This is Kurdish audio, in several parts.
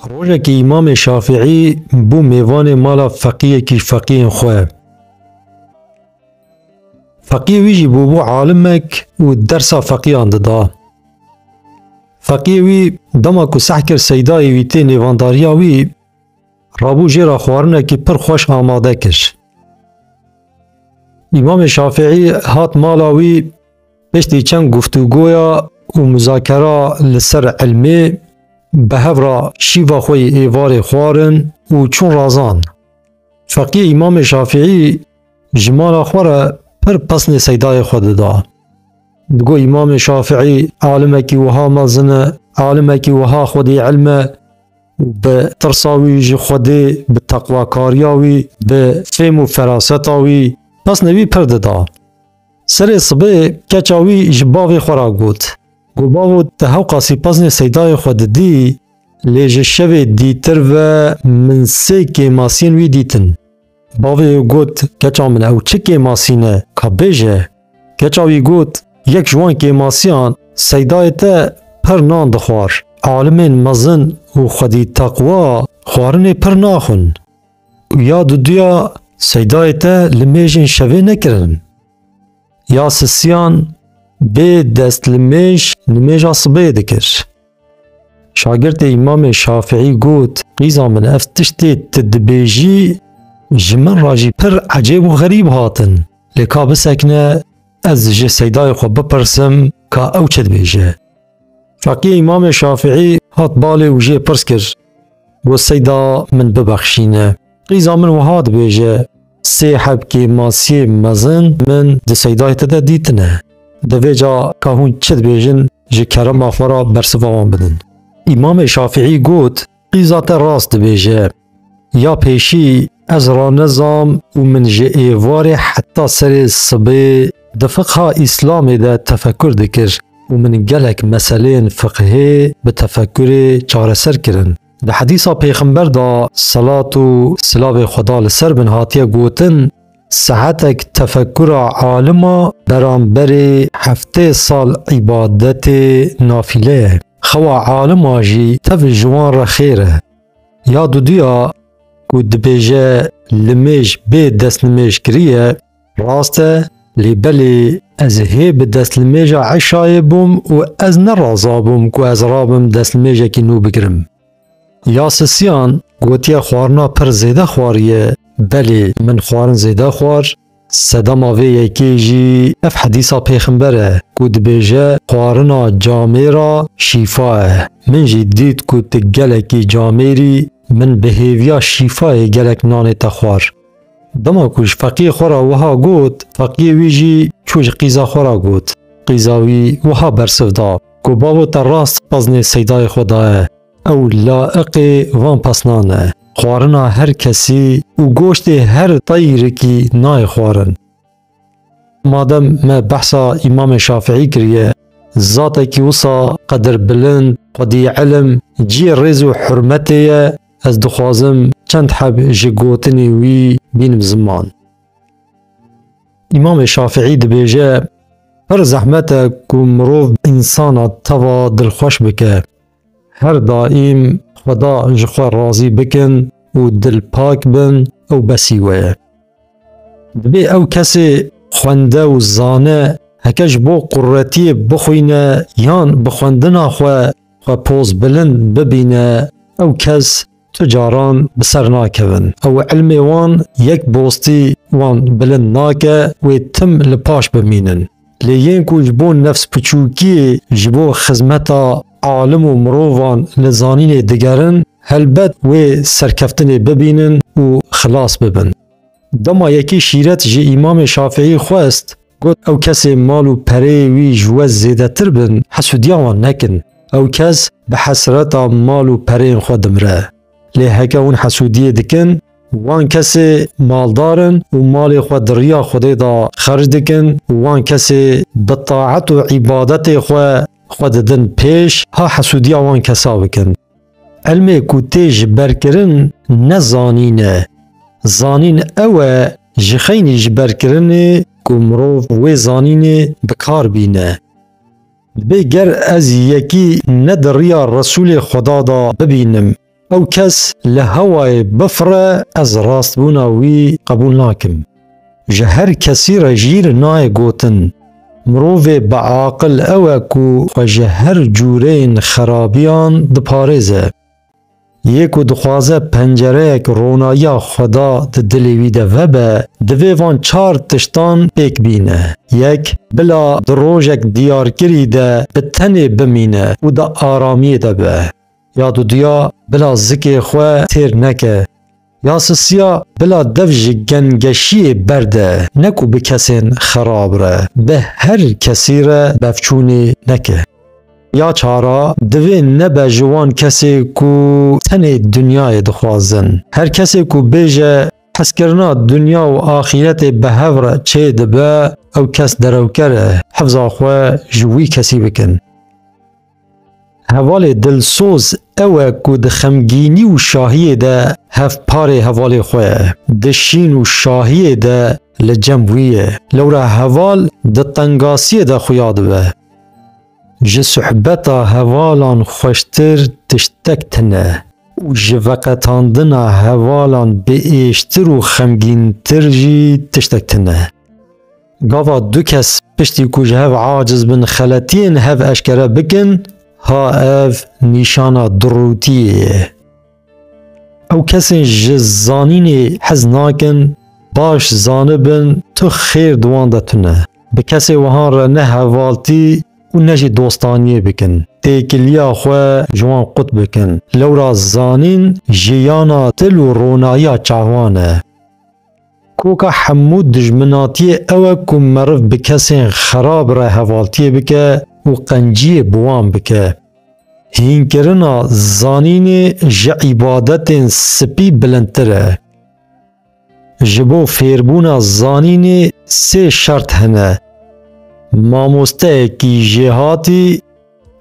Rojekî Îmamê Şafîî bû mêvanê mala feqîyekî feqîyên xwe. Feqîyê wî jî bûbû alimek û dersa feqîyan dida. Feqîyê wî dema ku seh kir seydayê wî tê nêvandariya wî, rabû jê re xwarinekî pir xweş amade kir. Îmamê Şafîî hat mala wî Piştî çend guftûgoya û muzakera li ser ilmê bi hev re şîva xwe yê êvarê xwarin û çûn razan. Feqî Îmamê Şafîî ji mala xwe re pir pesnê seydayê xwe dida. Digo Îmamê Şafîî alimekî wiha mezin e, alimekî wiha xwedî ilm e û bi tirsa wî ji Xwedê, bi teqwakariya wî, bi fêm û feraseta wî pesnê wî pir dida. Serê sibê keça wî ji bavê xwe ra got. Ku bavo te hewqa sîpaznê seydayê xwe didî, lê ji şevê dîtir ve min sê kêmasiyên wî dîtin. Bavê wê got, Keça min ew çi kêmasî ne, ka bêje? Keça wî got, Yek ji wan kêmasiyan seydayê te pir nan dixwar. Alimên mezin û xwedî teqwa xwarinê pir naxwin. Ya duduya seydayê te li mêjên şevê nekirin. Ya sisiyan bê dest li mêj li mêja sibê dikir. Şagirtê îmamê Şafîî got, Qîza min ev tiştê tu dibêjî ji min re jî pir ecêb û xerîb hatin. Lê ka bisekine ez ji seydayê xwe bipirsim ka ew çi dibêje. Fakî Îmamê Şafîî hat balê û jê pirs kir, Got seyda min bibexşîne. Qîza min wiha dibêje, Sê hebkê masiyê mezin min di seydayê te de dîtine. Divê ca ka hûn çi dibêjin ji kerema xwe re bersiva wan bidin. Îmamê Şafîî got, Qîza te rast dibêje. Ya pêşî ez ranezam û min ji êvarê heta serê sibê di fiqha îslamê de tefekur dikir û min gelek meseleyên fiqhê bi tefekurê çareser kirin. Di hedîsa pêxember de selat û silavê xweda li ser bin hatiye gotin, Saetek tefekkura alima beramberê heftê sal îbadetê nafîle ye. Xewa alima jî tev ji wan re xêr e. Ya duduya ku dibêje limêj bê destnimêj kiriye rast e lê belê ez hê bi destnimêja eşayê bûm û ez ne razabûm ku ez rabim destnimêjekî nû bikirim. Ya sisiyan gotiye xwarina pir zêde xwariye. Belê min xwarin zêde xwar. Sedema vê yekê jî ev hedîsa pêximber e ku dibêje xwarina camêra şîfa e. Min jî dît ku tu gelekî camêrî min bi hêviya şîfayê gelek nanê te xwar. Dema ku ji feqiyê xwe re wiha got, feqiyê wî jî çû ji qîza xwe re got. Qîza wî wiha bersiv da. Ku bavo te rast xwaznê seydayê xwe daye, ew laiqê van pesnan e. Xwarina her kesî û goştê her tayîrekî nayê xwarin. Madem me behsa Îmamê Şafîî kiriye, zatekî wisa qedir bilind, xwedî ilim, ciyê rêz û hurmetê ye, ez dixwazim çend heb ji gotinên wî bînim ziman. İmamê Şafiî dibêje pir zehmet e ku mirov insana teva dilxweş bike. Her daîm xweda ji xwe razî bikin û dilpak bin ew besî we ye. Dibê ew kesê xwende û zane heke ji bo quretiyê bixwîne yan bi xwendina xwe xwe poz bilind bibîne ew kes tu caran bi ser nakevin. Ew ilmê wan yek bostî wan bilind nake wê tim li paş bimînin. Lê yên ku ji bo nefsbiçûkiyê ji bo xizmeta alim û mirovan li zanînê digerin helbet wê serkeftinê bibînin û xilas bibin. Dema yekê şîret ji Îmamê Şafîî xwest Got, Ew kesê mal û pereyê wî ji we zêdetir bin, hesûdiya wan nekin. Ew kes bi hesreta mal û pereyên xwe dimire. Lê heke hûn hesûdiyê dikin, wan kesê maldar in û malê xwe di riya Xwedê de xerc dikin û wan kesê bi taet û îbadetê xwe xwe didin pêş, ha hesûdiya wan kesa bikin. Elmê ku tê ji ber kirin ne zanîn e. Zanîn ew e ji xeynî ji ber kirinê ku mirov wê zanînê bi kar bîne. Dibê ger ez yekî ne di riya Resûlê Xweda da bibînim, ew kes li hewayê bifire ez rastbûna wî qebûl nakim. Ji her kesî re jîr nayê gotin. Mirovê biaqil ew e ku xwe ji her cûreyên xerabiyan diparêze. Yê ku dixwaze pencereyek ronayiya Xweda di dilê wî de vebe, divê van çar tiştan pêk bîne, Yek, bila di rojek diyarkirî de bi tenê bimîne û di aramiyê de be. Ya duduya bila zikê xwe têr neke. Ya sisiya bila dev ji gengeşiyê berde, ne ku bi kesên xerab re, bi her kesî re bevçûnê neke. Ya çara divê nebe ji wan kesê ku tenê dinyayê dixwazin. Her kesê ku bêje hezkirina dinya û axîretê bi hev re çê dibe, ew kes derewker e, hifza xwe ji wî kesî bikin. Hevalê dilsoz ew e ku di xemgînî û şahiyê de hevparê hevalê xwe ye, di şîn û şahiyê de li cem wî ye. Lewra heval di tengasiyê de xuya dibe. Ji suhbeta hevalan xweştir tiştek tine û ji veqetandina hevalan biêştir û xemgîntir jî tiştek tine. Gava du kes piştî ku ji hev aciz bin xeletiyên hev eşkere bikin, ha ev nîşana dirûtiyê ye. Ew kesên ji zanînê hez nakin baş zanibin tu xêr di wan de tune. Bi kesê wihan re ne hevaltî û ne jî dostaniyê bikin. Têkiliya xwe ji wan qut bikin. Lewra zanîn jiyana dil û ronayiya çavan e. Koka hemû dijminatiyê ew e ku meriv bi kesên xerab re hevaltiyê bike û qenciyê bi wan bike. Hînkirina zanînê ji îbadetên spî bilindtir e. Ji bo fêrbûna zanînê sê şert hene, mamosteyekî jêhatî,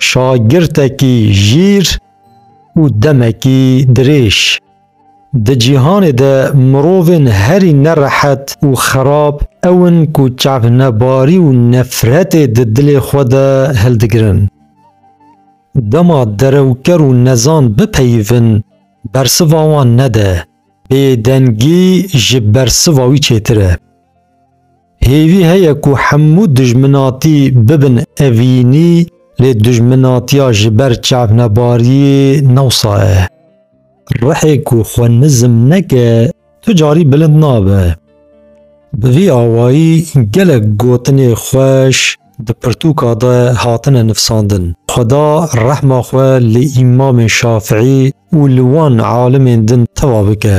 şagirtekî jîr û demekî dirêj. Di cîhanê de mirovên herî ne rehet û xerab ew in ku çavnebarî û nefretê di dilê xwe de hildigirin. Dema derewker û nezan bipeyivin, bersiva wan nede, bêdengî ji bersiva wî çêtir e. Hêvî heye ku hemû dijminatî bibin evînî lê dijminatiya ji ber çavnebariyê ne wisa ye. Rihê ku xwe nizm neke tu carî bilind nabe. Bi vî awayî gelek gotinê xweş di pirtûka de hatine nivsandin. Xweda rehma xwe li Îmamê Şafiî û li wan alimên din teva bike.